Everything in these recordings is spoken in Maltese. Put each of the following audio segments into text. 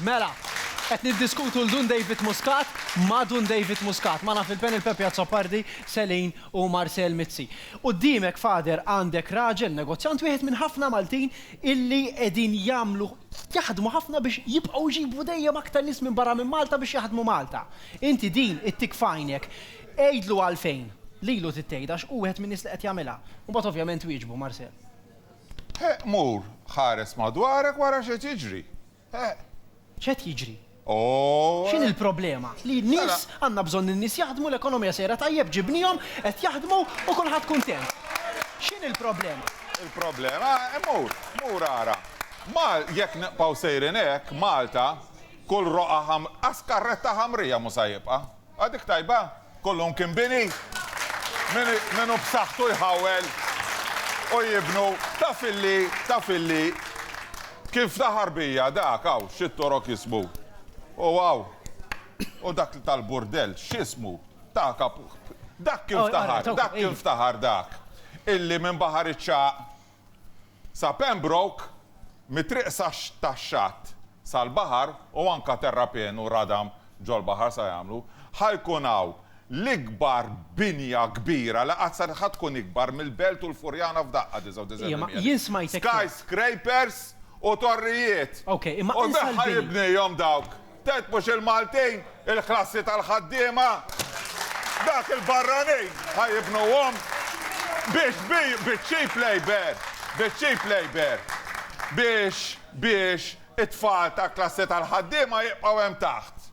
Mela, qed niddiskutu 'l Dun David Muscat ma' Dun David Muscat. Magħna fil-panel Pepe Azzopardi, Selin u Marcel Mizzi. Quddiemek, Father, għandek raġel negozjant, wieħed minn ħafna Maltin illi qegħdin jagħmlu, jaħdmu ħafna biex jibqgħu jġibu dejjem aktar nies minn barra minn Malta biex jaħdmu Malta. Inti din ittik f'għajnek. Għidlu għalfejn lilu trid tgħidha għax hu wieħed min-nies li qed jagħmilha. U mbagħad ovvjament wieġbu, Marcel. Heq mur ħares madwarek wara x'qed jiġri. Heq. X'qed jiġri? Ohh. X'inhi l-problema? Li n-nies, għandna bżonn li n-nies jaħdmu, l-ekonomija sejra tajjeb, ġibniehom, qed jaħdmu u kulħadd kuntent. X'inhi l-problema? Il-problema, mur, mur ara. Mal, jekk nibqgħu sejrin hekk, Malta, kull roqgħa ħam, qas karretta ħamrija mhux sa jibqa'. A dik tajba! Kollu mkien bini! Min hu b'saħħtu jħawwel u jibnu. Taf illi, taf illi, kif ta' ħarbija dak, hawn xi torok jismu. U hawn, u dak tal-burdell x'ismu? Ta' kap. Dak kien ftaħar, dak kien ftaħar dak, illi minn Baħar iċ-Ċagħaq Sa Pembroke, mit-triq tax-xatt sal-baħar u anke terrapien u radam ġol-baħar sa jagħmlu, ħa jkun hawn l-ikbar binja kbira li qatt saret, ħa tkun ikbar mill-Belt u l-Furjana f'daqqa, 99%, skyscrapers u torrijiet, u ħa jibnihom dawk. Ted mhux il-Maltin, il-klassi tal-ħaddiema. Dak il-barranin ħa jibnuhom. Biex bi, biċ-cheap labour, biċ-cheap labour. Biex, biex it-tfal tal-klassi tal-ħaddiema jibqgħu hemm taħt.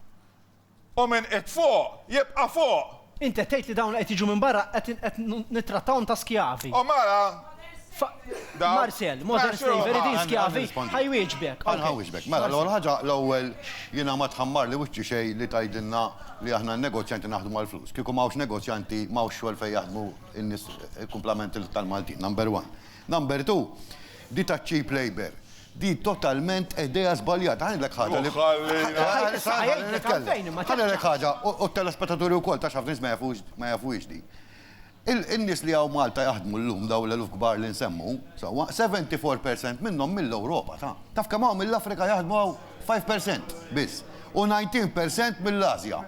U min qiegħed fuq, jibqa' fuq. Inti qed tgħid li dawn li qed jiġu minn barra qed qed nittrattawhom ta' skjavi. O mara! Fa Dawk. Marcel, modern Mexxi ruħha. slavery, din skjavi? Nirrispondi. Ħa jwieġbek. Ħa Ok. nħawwisbek. Mela, l-ewwel Marcel. ħaġa, l-ewwel jiena ma tħammarli wiċċi xejn li tgħidilna li aħna n-negozjanti naħdmu għall-flus. Kieku ma hawnx negozjanti, ma hawnx xogħol fejn jaħdmu n-nies, il-kumplament tal-Maltin, number one. Number two, di taċ-cheap labour, Di totalment idea żbaljata. Ħa ngħidlek ħaġa li. Issa ħalli nitkellem. Ħa ngħidlek ħaġa, u t-telespettaturi wkoll, taf x'ħafna nies ma jafux, ma jafuhiex di. In-nies li hawn Malta jaħdmu llum, dawn l-eluf kbar li nsemmu, sewwa, 74 percent minnhom mill-Ewropa, ta. Taf kemm hawn mill-Afrika jaħdmu hawn? 5 percent biss. U 19 percent mill-Ażja.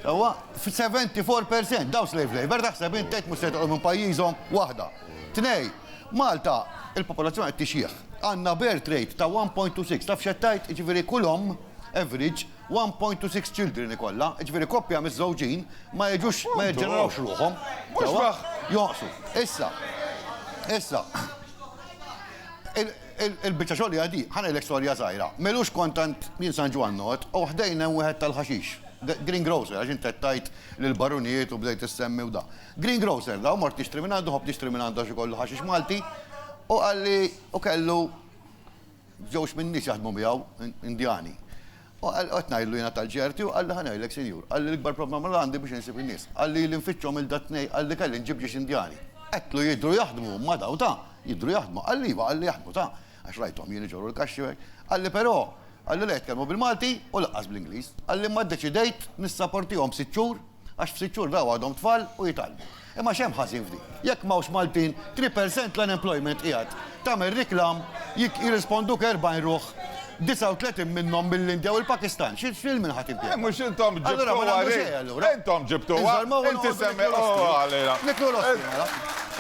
Sewwa, 74 percent, dawn slave labour, taħseb int tgħid mhux se jitqogħdu minn pajjiżhom? Waħda. Tnejn. Malta, il-popolazzjoni qed tixjieħ. Għandna birth rate ta' 1.26. Taf x'qed tgħid? Jiġifieri kull omm, average, 1.26 children ikollha. Jiġifieri koppja miżżewġin ma jiġux, ma jiġġenerawx ruħhom. Sewwa? Jonqsu. Issa, issa, il-biċċa xogħol hija di, ħa ngħidlek storja żgħira. M'ilux kont għand jien San Ġwann noqgħod u ħdejn hemm wieħed tal-ħaxix, greengrocer, għax int qed tgħid l-barunijiet u bdejt issemmi u da. Greengrocer, daw mort nixtri minn għandu, ħobb nixtri minn għandu għax ikollu ħaxix Malti, u qalli u kellu żewġ minn nies jaħdmu miegħu Indjani. U qed ngħidlu jiena tal-ġerti u qalli ħanajlek sinjur, qalli l-ikbar problema li għandi biex insib in-nies. Qalli ili nfittxhom il dat-tnejn qalli kelli nġib ġiex Indjani. Għedtlu jidhru jaħdmu ma daw ta, jidhru jaħdmu. Qalli iva, qalli jaħdmu ta, għax rajthom jien iġorru l-kaxxi u hekk. Qalli però, qalli la jitkellmu bil-Malti u laqqas bl-Ingliż. Qalli imma ddeċidejt nissaportihom sitt xhur, Għax f'sitt xhur daw għadhom tfal u jitgħallmu. Imma x'hemm ħażin f'di? Jekk m'hawnx Maltin, 3 percent l-unemployment qiegħed. Tagħmel riklam, jirrisponduk 40 ruħ, 39 minnhom mill-Indja u l-Pakistan. X'il min ħadd impjega? Eh, mhux intom ġibtu għalih. Intom ġibtu għalih. Inti semmi għalina. Niklu l-ospina.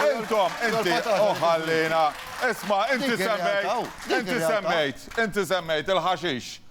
Intom, inti, uħallina. Isma, inti semmejt, inti semmejt, inti semmejt il-ħaxix.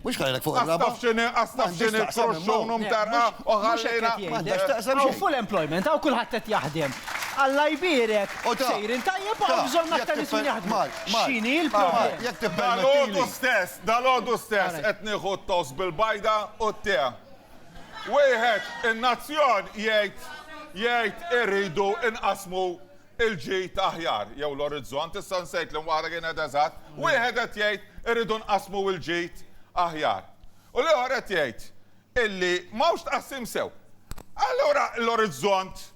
Mhux ħalejlek fuq ir-raba'. Għax taf x'inhi, għax taf x'inhi l-froxxun u mtarqa' u ħallejna. M'għandekx taqsam xejn. Hawn full employment, hawn kulħadd qed jaħdem. Alla jbierek, sejrin tajjeb u hawn bżonn aktar nies li jaħdmu. X'inhi l-problema? Dalgħodu stess, dalgħodu stess qed nieħu t-toast bil-bajda u t-tea. Wieħed, in-nazzjon jgħid, jgħid irridu nqassmu il-ġid aħjar jew l-orizzont, issa nsejt li waħda kienet eżatt, wieħed qed jgħid irridu nqassmu il-ġid aħjar u l-ieħor qed jgħid illi m'hawnx tqassim sew. Allura l-orizzont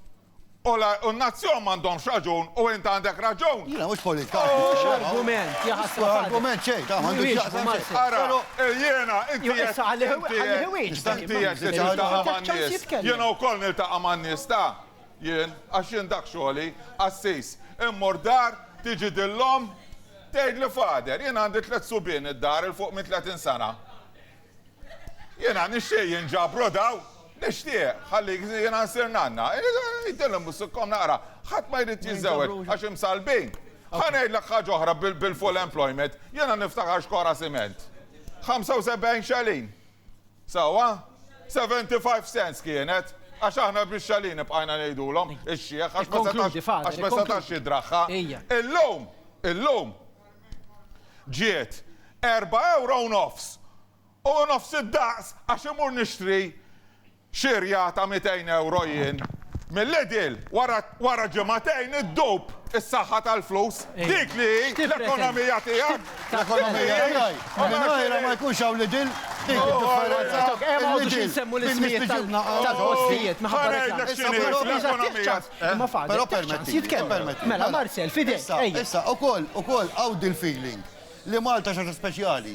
u n-nazzjon m'għandhomx raġun u int għandek raġun? Jiena mhux politika. Mhux argument, jaħasra. Mhux argument xejn, dan m'għandu x'jaqsam ma' xejn. Ara, jiena inti qed inti qed li tiltaqa' man-nies. Jiena wkoll niltaqa' man-nies ta'. Jien, għax jien dak xogħli, qassis, immur dar, tiġi din l-omm, tgħidli Father, jien għandi tliet subien id-dar 'il fuq minn tletin sena. Jiena nixtieq jinġabru dawn, nixtieq, ħallik jiena nsir nanna. Ngħidilhom biss ikkom naqra, ħadd ma jrid jiżżewweġ għax imsallbin. Ħa ngħidlek ħaġa oħra bil-full employment, jiena niftakar xkora siment. 75 xelin, Sewwa? Seventy five cents kienet, għax aħna bix-xalini bqajna ngħidulhom, ix-xiħ, għax ma setax, għax ma setax jidragħha. Illum, illum, ġiet erba' ewro u nofs, u nofs id-daqs għax imur nixtri Xirja ta' mitejn ewro jien mil-Lidl wara ġimgħatejn iddub is-saħħa tal-flus, dik li hi l-ekonomija tiegħek! L-ekonomija tiegħi? U mingħajrha ma jkunx hawn Lidl? Dik id-differenza! Ma noqogħdux insemmu l-ismijiet tal-postijiet minħabba li. Ħa ngħidlek x'inhi l-ekonomija! Imma fadal ftit ċans jitkellem. Mela Marcel, f'idejk, ejja! Issa, ukoll hawn dil-feeling li Malta xi ħaġa speċjali.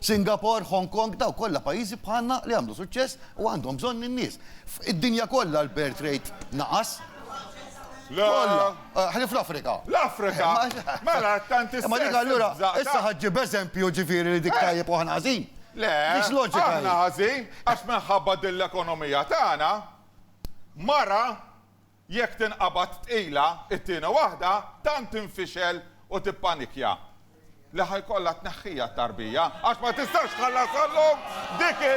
Singapore, Hong Kong, dawk kollha pajjiżi bħalna li għamlu suċċess u għandhom bżonn in-nies. F'id-dinja kollha l-birth rate naqas. Kollha. Ħlief fl-Afrika. L-Afrika. Mela, tant is-sess. Imma dik allura, issa ħadd ġieb eżempju ġifieri li dik tajjeb u aħna ħażin? Le. Mhix loġika hi. Aħna ħażin għax minħabba din l-ekonomija tagħna, mara Jekk tinqabad tqila, it-tieni waħda tant tinfixel u tippanikja li ħa jkollha tneħħiha t-tarbija għax ma tistax tħallasha llum, dik hi,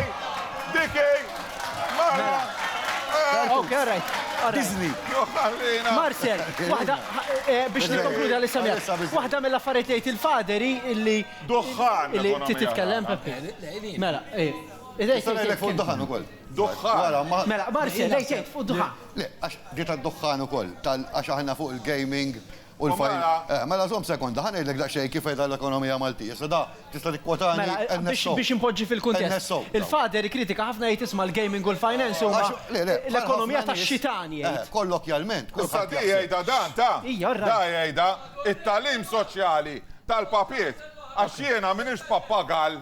dik hi, mela. Marcel, waħda, biex nikkonkludi għalissa miegħek, waħda mill-affarijiet li jgħid il-Father hi illi. Duħħan! Illi trid titkellem, Peppe. Mela, eh. Tista' ngħidlek fuq id-duħħan ukoll. Duħħan! Mela, Marcel, lei tgħid fuq id-duħħan. Le, għax di tad-duħħan ukoll, tal għax aħna fuq il-gaming u l-fajl. U mela? Eh, mela żomm sekonda, ħa ngħidlek daqsxejn kif qiegħda l-ekonomija Maltija. Issa da, tista' tikkwotani Mela, biex NSO. biex inpoġġi fil-kuntest. NSO, daw. Il-Father jikkritika ħafna jgħid isma' l-gaming u l-finance huma Għax, le, le, bħal l-ekonomija ħafna nies- tax-xitan Eh, jgħid. kollokjalment, Issa kulħadd di jaħseb. jgħidha dan ta'. Hija, all right. Da jgħidha, it-tagħlim soċjali tal-papiet. Għax jiena m'iniex pappagall.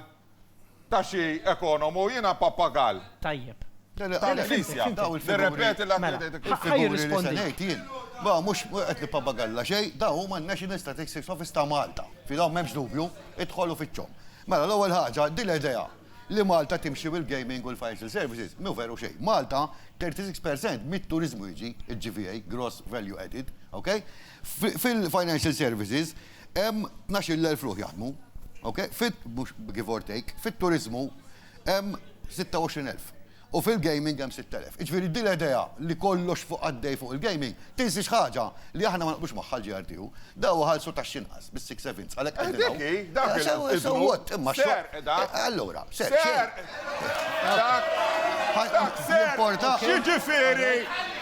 Ta' xi ekonomu, jiena pappagall. Tajjeb. Tal-Knisja. Nirrepeti l-għan li tgħid il-Knisja. Ħa jirrispondi. Dak li se ngħid jien. Ma mhux qed nippappagalla xejn, dawn huma n-National Statistics Office ta' Malta. Fi dawn m'hemmx dubju, idħol u fittxhom. Mela l-ewwel ħaġa, din l-idea li Malta timxi bil-gaming u l-financial services mhu veru xejn. Malta, 36 per cent mit-turiżmu jiġi, il-GVA, Gross Value Added, okay? Fil-financial services, Hemm tnax-il elf ruħ jaħdmu, ok, fit, mhux give or take, fit-turiżmu hemm sitta u għoxrin elf u fil-gaming hemm sitt elef. Jiġifieri din l-idea li kollox fuq għaddej fuq il-gaming tinsi x'ħaġa li aħna ma naqblux magħha l-GRTU, daw iħallsu taxxi inqas bis-six sevenths għalhekk qegħdin hawn. Dik hi, dak il-, So what? Imma x'għodd? Serq dan. Allura, serq xejn. X'jiġifieri,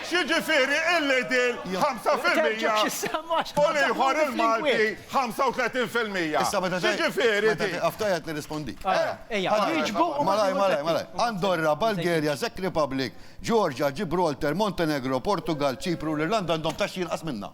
x'jiġifieri il-Lidl 5% u l-ieħor il-Malti 35%? X'jiġifieri din? Meta tieqaf tgħajjat nirrispondik. Ejja, wieġbu u mbagħad. Malajr, malajr, malajr. Andorra, Bulgaria, Czech Republic, Georgia, Gibraltar, Montenegro, Portugall, Ċipru u l-Irlanda għandhom taxxi inqas minna.